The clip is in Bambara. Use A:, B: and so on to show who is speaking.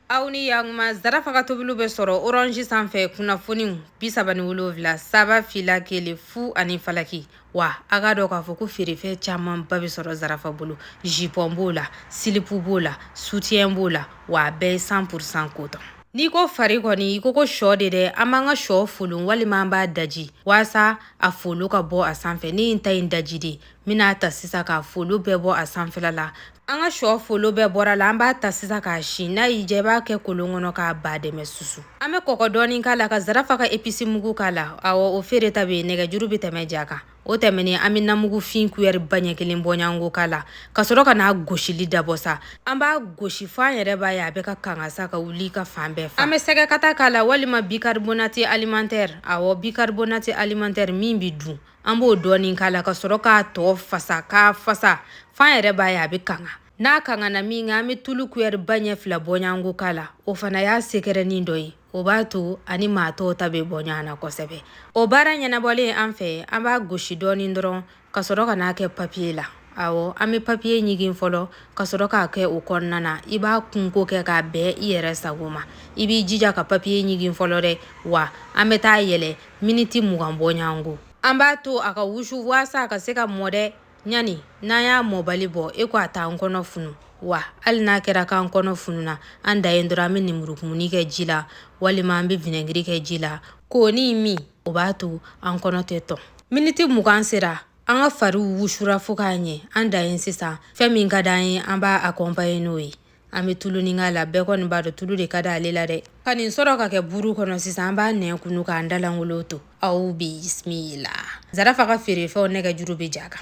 A: aw ni yakuma zarafa ka tobiliw bɛ sɔrɔ orange sanfɛ kunnafoniw bi saba ni wolonwula saba fila kelen fu ani falaki wa a k'a dɔn k'a fɔ ko feerefɛn camanba bɛ sɔrɔ zarafa bolo jipɔn b'o la silipu b'o la sutiyɛn b'o la wa a bɛɛ ye san purisan kotɔn n'i ko fari kɔni i ko ko shɔ de dɛ an b'an ka shɔ folon walima an b'a daji waasa a folo ka bɔ a sanfɛ ne ye n ta in daji de n bɛna a ta sisan k'a folo bɛɛ bɔ a sanfɛla la an ka shɔ folo bɛɛ bɔr'a la an b'a ta sisan k'a si n'a y'i diya i b'a kɛ kolon kɔnɔ k'a ba dɛmɛ susu an bɛ kɔgɔ dɔɔni k'a la ka zarafa ka episi mugu k'a la awɔ o feereta bɛ yen nɛgɛjuru bɛ tɛmɛ ja kan o tɛmɛnen an bɛ namugu fin kuyɛri ba ɲɛ kelen bɔɲɔgɔnko k'a la ka sɔrɔ ka n'a gosili dabɔ sa an b'a gosi fo an yɛrɛ b'a ye a bɛ ka kanga sa ka wuli ka fan bɛɛ fa an bɛ sɛgɛkata k'a la walima bicarbonate alimentaire awɔ bicarbonate alimentaire min bɛ dun an b'o dɔɔni k'a la ka sɔrɔ k'a tɔ fasa k'a fasa f'an yɛrɛ b'a ye a bɛ kanga n'a kangana minkɛ an bɛ tulu kuyɛri ba ɲɛ fila bɔɲɔgɔnko k'a la o fana y'a sekɛrɛnin dɔ ye o b'a to a ni maa tɔw ta bɛ bɔ ɲɔgɔn na kosɛbɛ o baara ɲɛnabɔlen an fɛ an b'a gosi dɔɔni dɔrɔn ka sɔrɔ ka n'a kɛ papiye la awɔ an bɛ papiye ɲigin fɔlɔ ka sɔrɔ k'a kɛ o kɔnɔna na i b'a kunko kɛ k'a bɛn i yɛrɛ sago ma i b'i jija ka papiye ɲigin fɔlɔ dɛ wa an bɛ taa yɛlɛ miniti mugan bɔɲɔgɔnko an b'a to a ka wusu waasa a ka se ka mɔ dɛ ɲani n'an y'a mɔbali bɔ e ko a t'an kɔnɔ funu wa hali n'a kɛra k'an kɔnɔ fununa an dan ye dɔrɔn an bɛ nimurukumuni kɛ ji la walima an bɛ vinɛgiri kɛ ji la k'onin min o b'a to an kɔnɔ tɛ tɔn miniti mugan sera an ka fariw wusura fo k'a ɲɛ an dan ye sisan fɛn min ka d'an ye an b'a akɔnpaɲe n'o ye an bɛ tulunin k'a la bɛɛ kɔni b'a dɔn tulu de ka di ale la dɛ ka nin sɔrɔ k'a kɛ buru kɔnɔ sisan an b'an nɛn kunu k'an da lankolon to aw bisimila zarafa ka feerefɛnw nɛgɛjuru bɛ ja kan